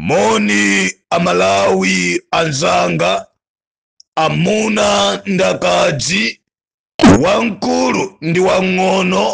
Moni amalawi anzanga, amuna ndi akazi, wamkulu ndi wang'ono,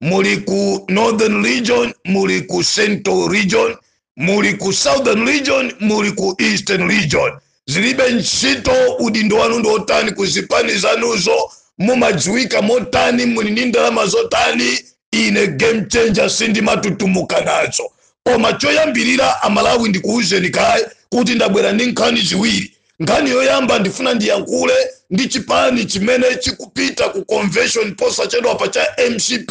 muli ku northern region, muli ku central region, muli ku southern region, muli ku eastern region, zilibe ntchito udindo wanu ndi wotani ku zipani zanuzo mumadziwika motani muli ndi ndalama zotani ine game changer sindimatutumuka nazo koma choyambirira amalawi ndikuwuzeni kaye kuti ndabwera ndi nkhani ziwiri nkhani yoyamba ndifuna ndiyankhule ndi chipani chimene chikupita ku convention posachedwapa cha mcp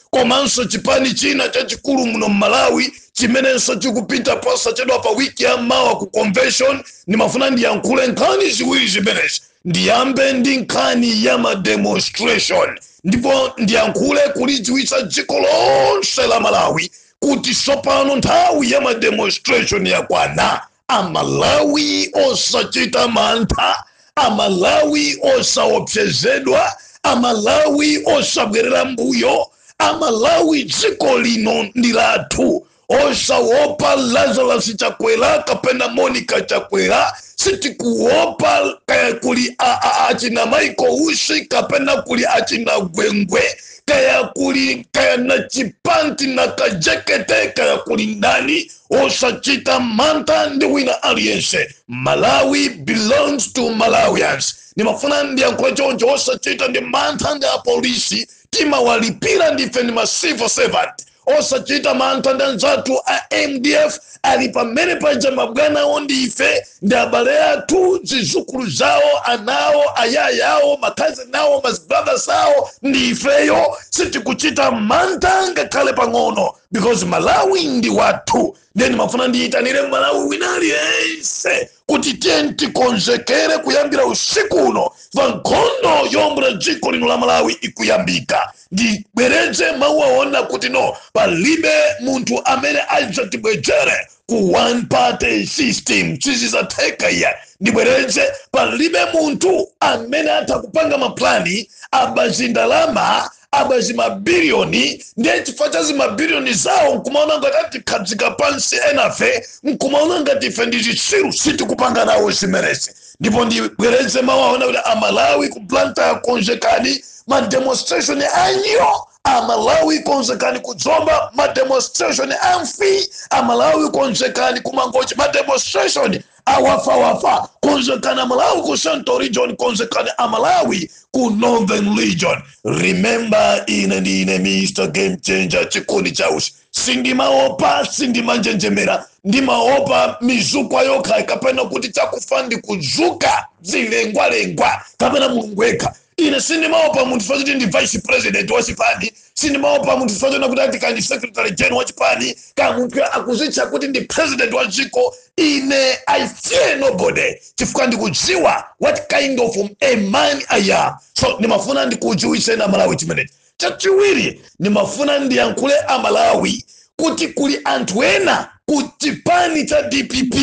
komanso chipani china chachikulu muno mmalawi chimenenso chikupita posachedwa pa wiki ya mawa ku convention ndimafuna ndiyankhule nkhani ziwiri zimenezi ndiyambe ndi nkhani ya mademonstration ndipo ndiyankhule kulidziwitsa dziko lonse la malawi kuti tsopano nthawi ya mademonstration yakwana amalawi osachita mantha amalawi osaopsezedwa amalawi osabwerera mbuyo amalawi dziko lino ndi lathu osaopa lazarus chakwera kapena monica chakwera sitikuopa kaya kuli a- a- achina Michael Usi kapena kuli achina gwengwe kaya kuli kaya na chipanti na kajekete kaya kuli ndani osachita mantha ndi wina aliyense malawi belongs to malawians ndimafuna ndiyankhule choncho osachita ndi mantha ndi apolisi timawalipira ndife ndi ma civil servant osachita mantha ndi anzathu a mdf ali pamene paja mabwanawo ndi ife ndi abale athu zizukulu zawo anawo ayaya awo makadzinawo mazibaba sawo ndi ifeyo sitikuchita mantha ngakhale pang'ono because malawi ndi wathu ndiye ndimafuna ndiyitanire mmalawi wina aliyense kuti tiyeni tikonzekere kuyambira usiku uno pa nkhondo yoombola dziko lino la malawi ikuyambika ndibwereze mawu awa kunena kuti no palibe munthu amene adzatibwezere ku one party system sizidzatheka iya ndibwereze palibe munthu amene atha kupanga maplani a pazindalama a pazimabilioni ndiye chifukwa cha zimabilioni zawo nkumaona ngati atikhadzika pansi enafe nkumaona ngati ife ndi zitsiru sitikupanga nawo zimenezi ndipo ndibwereze mawu awa kunena kuti amalawi ku blantyre konzekani ma demonstration anyoo amalawi konzekani ku zomba ma demonstration amfii amalawi konzekani ku mangochi ma demonstration awafawafa konzekani amalawi ku central region konzekani amalawi ku northern region remember ine ndine mr game changer Chikuni Chausi sindimaopa sindimanjenjemera ndimaopa mizukwa yokha kapena kuti chakufa ndikuzuka zilengwalengwa kapena mulungu yekha ine sindimaopa munthu chifukwa choti ndi vice president wa chipani sindimaopa munthu chifukwa chonena kuti ati kandi secretary general wa chipani ka munthu akuzitcha kuti ndi president wa dziko ine i fear nobody chifukwa ndikudziwa what kind of a man i am so ndimafuna ndikudziwitseni amalawi chimenechi Chachiwiri ndimafuna ndiyankhule a Malawi kuti kuli anthu ena ku chipani cha dpp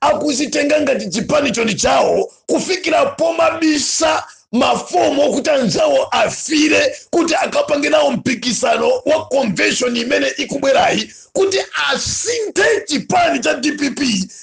akuzitenga ngati chipanicho ndi chawo kufikira pomabisa mafomu okuti anzawo afire kuti akapange nawo mpikisano wa convention imene ikubwerayi kuti asinthe chipani cha dpp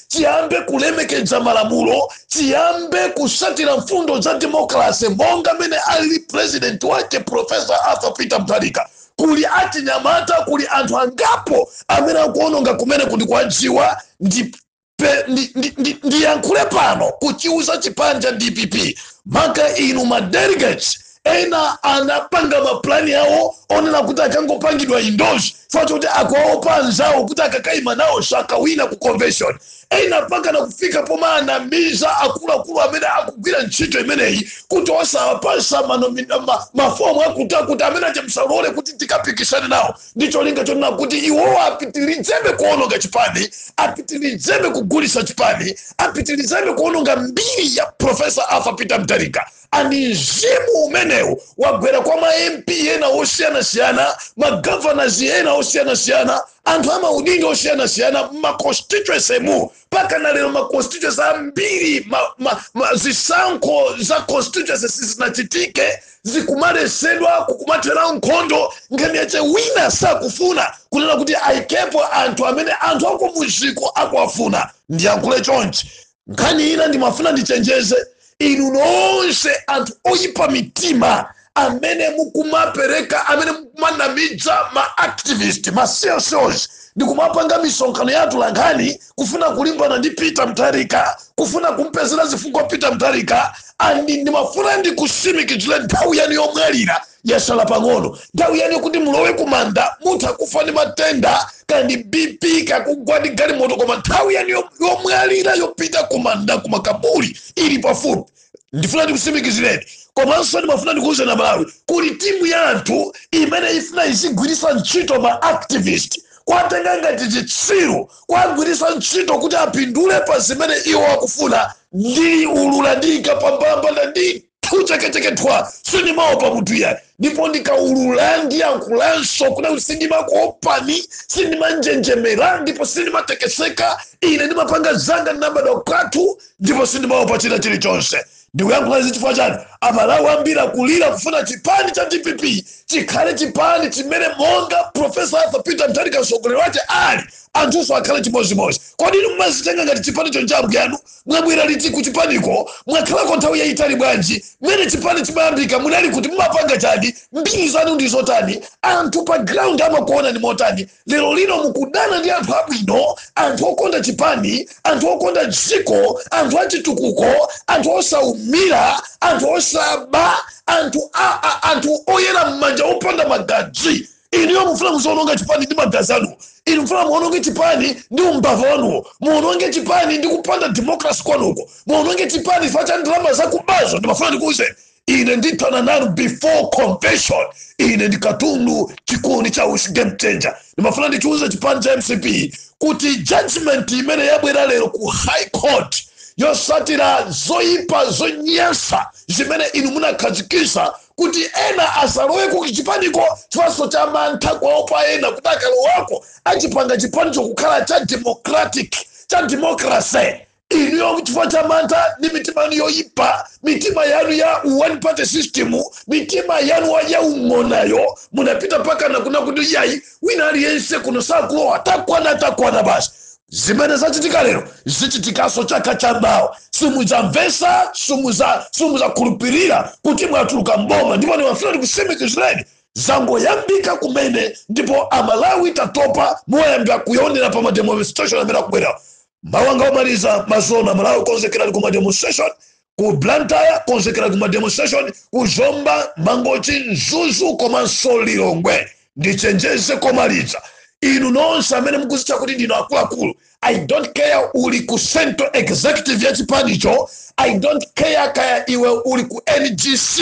chiyambe kulemekedza malamulo chiyambe kusatira mfundo za demokrase monga mene ali president wake profesa arthur peter mutharika kuli achinyamata kuli anthu angapo amene akuononga kumene kundikuwadziwa ndi pe- ndi- ndi- ndi- ndiyankhule pano kuchiuza chipani cha dpp maka inu ma delegates ena anapanga mapulani awo onena kuti akangopangidwa endorse chifukwa choti akuwaopa anzawo kuti akakaima nawo sakawina ku convention ena mpaka nakufika pomawanamiza akuluakulu amene akugwira ntchito imeneyi kuti osawapasa mafomu akutakuti amene achamusalole kuti tikapikisane nawo ndi cholinga chonena kuti iwowo apitirizebe kuononga chipani apitirizebe kugulisa chipani apitirizebe kuononga mbiri ya profesa arthur peter mutharika and mzimu umenewu wagwera kwa ma mp ena osiyanasiyana magavanas ena osiyanasiyana anthu amaudindo osiyanasiyana mmaconstituency mu mpaka na lero ma constituencies ambiri ma, ma, ma, zisankho za constituencies sizinachitike zikumaletsedwa kukumathera nkhondo nkhani yache wina sakufuna kunena kuti ayikepo anthu amene anthu akumudziko akwafuna ndiyankhule chonchi nkhani ina ndimafuna ndichenjeze inu nonse anthu oyipa mitima amene mukumapereka amene mukumanamidza ma activist ma csos ndi kumapanga misonkhano ya atolankhani kufuna kulimbana ndi peter mutharika kufuna kumpezera zifukwa peter mutharika and ndimafuna ndikusimikizire nthawi yanu yomwalira Yatsala pang'ono nthawi yanu kuti mulowe kumanda. Mutha kufa ndi matenda, kaya ndi BP, kaya kugwa ndi galimoto, koma nthawi yanu yo- yomwalira yopita kumanda kumakaburi ili pafupi. Ndifuna ndikusimikizireni komanso ndimafuna ndikuwuzeni amalawi kuti timu ya anthu imene ifuna izigwiritsa ntchito ma activist kwatenga ngati chitsiru kwagwiritsa ntchito kuti apindule pa zimene iwo akufuna ndiulula ndiyika pambalambanda ndini kuchekechekedwa sindimaopa munthu iyayi ndipo ndikaulula ndiyankhulanso kuti sindimakuopani sindimanjenjemera ndipo sindimatekeseka ine ndimapanga zanga ndinabadwa kwathu ndipo sindimaopa china chilichonse ndikuyankhula izi chifukwa chani amalawi ambiri akulira kufuna chipani cha dpp chikhale chipani chimene monga profesa arthur peter mutharika mtsogoleri wake ali anthunso akhale chimodzimodzi kodi inu mumazitenga ngati chipanicho ncha mbuyanu mwabwera liti ku chipaniko mwakhalako nthawi yayitali bwanji mmene chipani chimayambika munali kuti mumapanga chani mbiri zanu ndi zotani anthu pa ground amakuonani motani lero lino mukudana ndi anthu abwino anthu okonda chipani anthu okonda dziko anthu achitukuko anthu osaumira anthu osaba anthu, a, a, anthu oyera m'manja opanda magazi inuyo mufuna muziononga chipani ndi magazi anuwo inu mufuna muononge chipani ndi umbava wanuwo muononge chipani ndi kupanda democracy kwanuko muononge chipani chifukwa cha ndalama zakubazo ndimafuna ndikuuzeni ine ndithana nanu before convention ine ndi katundu chikuni cha usi game changer ndimafuna ndichiuze chipani cha mcp kuti judgment imene yabwera lero ku high court yosatira zoyipa zonyansa zimene inu munakhazikisa kuti ena asalowe ku chipaniko chifanso cha mantha kuwaopa ena kuti akalowako achipanga chipanicho kukhala cha democratic cha democracy inuyo chifukwa cha mantha ndi mitima yanu yoyipa mitima yanu ya one party system mitima yanu ya ung'onayo munapita mpakana kunena kuti yayi wina aliyense kuno sakulowa takwana takwana basi zimene zachitika lero zichitikanso chaka cha mawa simudzamvesa simuza- simuzakhulupirira kuti mwatuluka mboma ndipo ndimafuna ndikusimikizireni zangoyambika kumene ndipo amalawi tatopa muyambira kuyonera pa mademonstration amene akubwera mawu anga omaliza mazona amalawi konzekerani ku mademonstration ku blantyre konzekera ku mademonstration ku zomba mangochi mzuzu komanso lilongwe ndichenjeze komaliza inu nonse amene mukuzitcha kuti ndinu akuluakulu i don't care uli ku central executive ya chipanicho i don't care kaya iwe uli ku ngc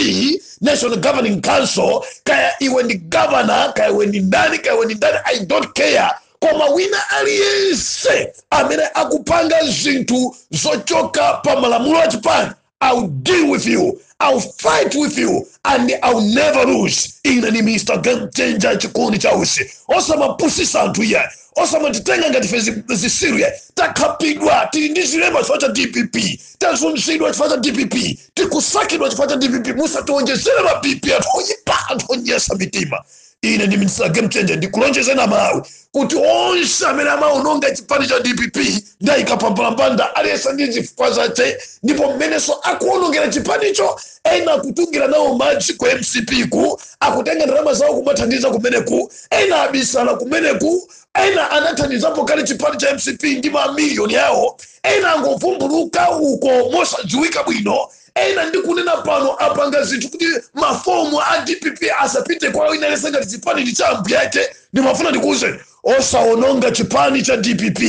national governing council kaya iwe ndi governor kaya iwe ndi ndani kaya iwe ndi ndani i don't care Koma wina aliyense amene akupanga zinthu zochoka pa malamulo a chipani, I'll deal with you, I'll fight with you and I'll never lose. Ine ndine Mr. Game Changer Chikondi cha Usi. Osamapusisa anthu iyayi. Osamatitenga ngati ife zi- zitsiru iyayi. Takhapidwa tili ndi zilema chifukwa cha DPP. Tazunzidwa chifukwa cha DPP. Tikusakidwa chifukwa cha DPP. Musatiwonjezere ma BP anthu oyipa anthu onyesa mitima. ine ndi mr game changer ndikulonjezeni amalawi kuti onse amene akuononga chipani cha dpp ndiwayika pambalambanda aliyense ndi zifukwa zache ndipo mmenenso akuonongera chipanicho ena akutungira nawo madzi ku mcp ku akutenga ndalama zawo kumathandiza kumeneku ena abisala kumeneku ena anathandizapo kale chipani cha mcp ndi mamiliyoni yawo ena angovumbuluka uko mosadziwika bwino ena ndikunena pano apanga zinthu kuti mafomu a dpp asapite kwa wina aliyense ngati chipani ndi cha ambuyake ndimafuna ndikuwuzeni osawononga chipani cha dpp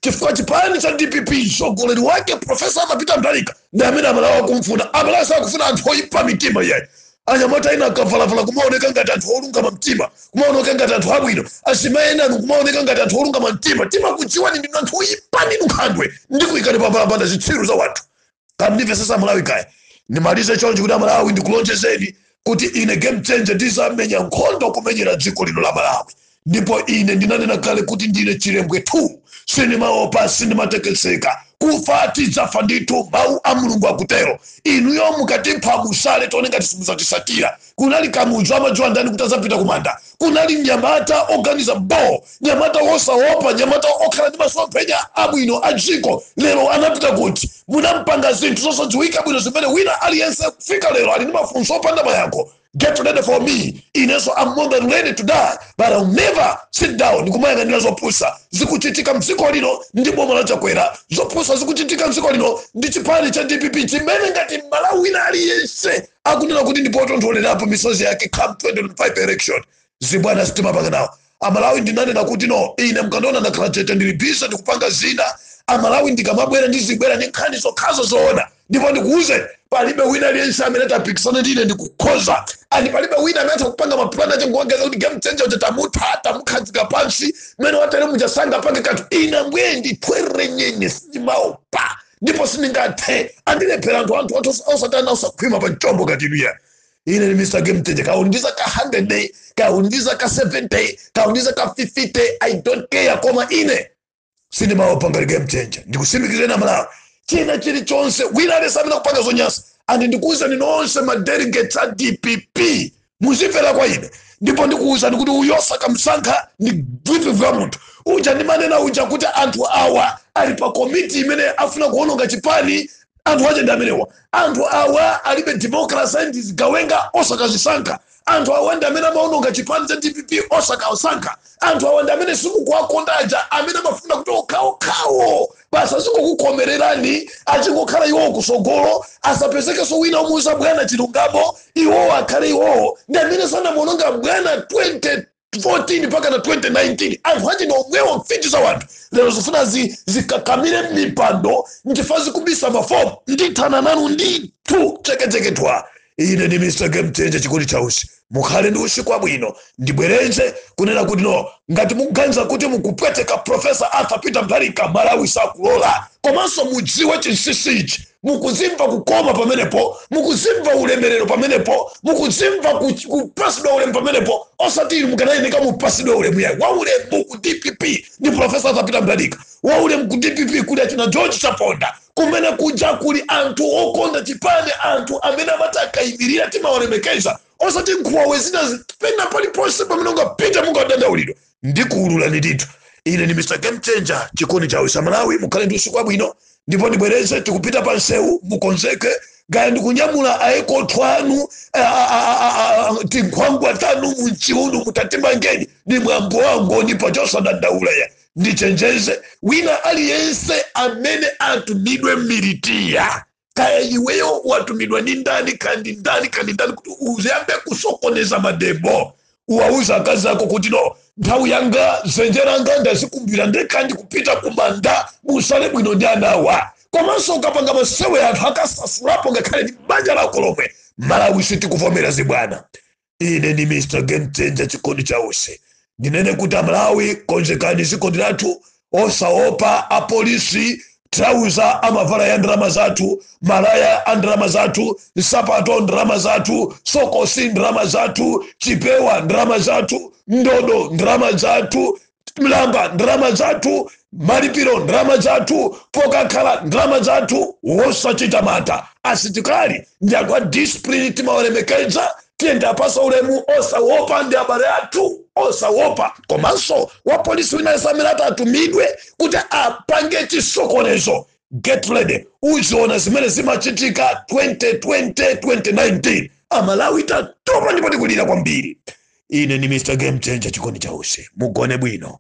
chifukwa chipani cha dpp mtsogoleri wake profesa arthur peter mutharika ndi amene amalawi akumfuna amalawi sakufuna anthu oyipa mitima iyayi anyamata ena akavalavala kumaoneka ngati anthu olungama mtima kumaoneka ngati anthu abwino azimayi enanu kumaoneka ngati anthu olungama mtima timakudziwani ndinu anthu oyipa ndinu nkhandwe ndikuyikani pambalambanda zitsiru za wanthu tandimveseseni amalawi kaye ndimalize chonchi kuti amalawi ndikulonjezeni kuti ine game changer ndizamenya nkhondo kumenyera dziko lino la malawi ndipo ine ndinanena kale kuti ndine chilembwe 2 sindimaopa sindimatekeseka kufa tidzafa ndithu mawu a mulungu akutero inuyo mukatipha mutsale tione ngati simuzatisatira kunali kamuzu amadziwa ndani kuti adzapita kumanda kunali mnyamata oganiza bo mnyamata wosaopa mnyamata okhala ndi masomphenya abwino a dziko lero anapita kuti munampanga zinthu zosadziwika bwino zimene wina aliyense kufika lero ali ndi mafunso opanda mayankho get ready for me inenso I'm more than ready to die but I'll never sit down ndikumayang'anira zopusa zikuchitika mdziko lino ndi boma la chakwera zopusa zikuchitika mdziko lino ndi chipani cha dpp chimene ngati mmalawi wina aliyense akunena kuti ndi potontholerapo misozi yake come 2025 election zibwana sitimapanga nawo amalawi ndinanena kuti no ine mukandiona ndakhala chete ndili bize ndikupanga zina amalawi ndikamabwera ndizibwera ndi nkhani zokhazo zoona ndipo ndikuuzeni palibe wina aliyense amene atapikisane ndine ndikukhoza and palibe wina amene atha kupanga mapulani ache nkuganiza kuti game changer uja tamutha tamukhazika pansi mmene atelere muja sangapange kanthu ine mbwendi thwerenyenye sindimaopa ndipo sindingathe andilephera anthu anthu athu osa- osatana osakhwima pa mchombo ngati inu iyayi ine ndi mr game changer kaya uli ndi zaka 100 kaya uli ndi zaka 70 kaya uli ndi zaka 50 i don't care koma ine sindimaopa ngati game changer ndikusimikizireni amalawi china chilichonse wina aliyense amene akupanga zonyasa and ndikuwuzani nonse ma delegates a dpp muzimvera kwa ine ndipo ndikuwuzani kuti uyu osakamsankha ndi bwibwibwi ya munthu uja ndimanena uja kuti anthu awa ali pa komiti imene afuna kuononga chipani anthu aja ndi amenewa anthu awa alibe democracy ndi zigawenga osakazisankha anthu awa ndi amene amaononga chipani cha dpp osakasankha anthu awa ndi amene simukuwakonda aja amene amafuna kuti okhaokhawo basi azingokukhomererani azingokhala iwowo kusogolo asapezekenso wina omuuza bwana chilungamo iwowo akhale iwowo ndi amene anamuononga bwana 2014 mpaka na 2019 anthu ache ni omwewo mfiti za wanthu lero zifuna zikakamire mipando nchifukwa zikubisa mafomu ndithana nanu ndithu cheketecheketwa ine ndi mr game changer chikondi cha usi mukhale ndi usiku wabwino ndibwerenze kunena kuti no ngati mukuganiza kuti mukupweteka profesa arthur peter mutharika malawi sakulola komanso mudziwe chinsinsi ichi mukuzimva kukoma pamenepo mukuzimva ulemerero pamenepo mukuzimva ku- kupasidwa ulemu pamenepo osati inu mukanayeneka mupasidwe ulemu yayi waulemu ku dpp ndi profesa arthur peter mutharika waulemu ku dpp kuli achina george chaponda kumene kuja kuli anthu okonda chipani anthu amene amati akayimirira timawalemekeza osati nkhuwawe zinazi pena paliponse pamene mungapite mungadandaulidwa ndikuululani ndithu ine ndi mr game changer chikondi chawo cha malawi mukhale ndi usiku wabwino ndipo ndibwereze tikupita pa nsewu mukonzeke kaya ndikunyamula aekotho anu a- a- a- a- a- tinkhwangwa tanu munchiunu mutatimangadi ndi mwambo wangoni pachosadandaula ya ndichenjeze wina aliyense amene atumidwe militia kaya iweyo watumidwa ndi ndani kaya ndi ndani kaya ndi ndani kuti uzayambe kusokoneza mademo uwauze akazi ako kuti no nthawi yanga dzenje langa ndazikumbira ndekha ndikupita kumanda musale bwino ndi anawa komanso ukapanga masewera anthu akasasulapo ngakhale ndi banja lako lomwe malawi sitikuvomera zibwana ine ndi mr game changer chikondi cha usi ndinene kuti amalawi konzekani ziko ndi lathu osaopa apolisi trauza amavala ya ndalama zathu malaya a ndalama zathu nsapato ndalama zathu sokosi ndalama zathu chipewa ndalama zathu ndodo ndalama zathu mlamba ndalama zathu malipiro ndalama zathu pokakhala ndalama zathu wosachita mantha asitikali ndi anthu a discipline timawalemekeza tiyeni tiapasa ulemu osawopa ndi abale athu osawopa komanso wapolisi wina aliyense amene atatumidwe kuti apange chisokonezo get ready uzaona zimene zimachitika 2020 2019 amalawi tatopa ndipo tikulira kwambiri ine ndi mr game changer chikondi cha usiku mugone bwino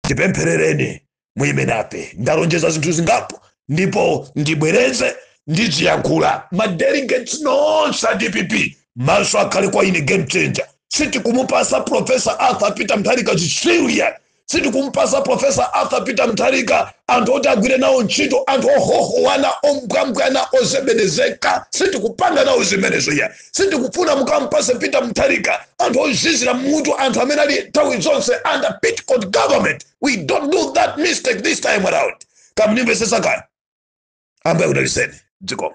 tipempherereni muyime nafe ndalonjeza zinthu zingapo ndipo ndibwereze ndiziyankhula madelegates nonse a dpp maso akhale kwa ine game changer sitikumupasa profesa arthur peter mutharika zitsiru ya sitikumpasa profesa arthur peter mutharika anthu oti agwire nawo ntchito anthu ohohowana ombwambwana ozebedezeka sitikupanga nawo zimenezo ya sitikufuna mukampase peter mutharika anthu ozizira mutu anthu amene ali nthawi zonse under petticoat government we don't do that mistake this time around kaya mukundimvesesa kaya ambuye akudaliseni dzikomo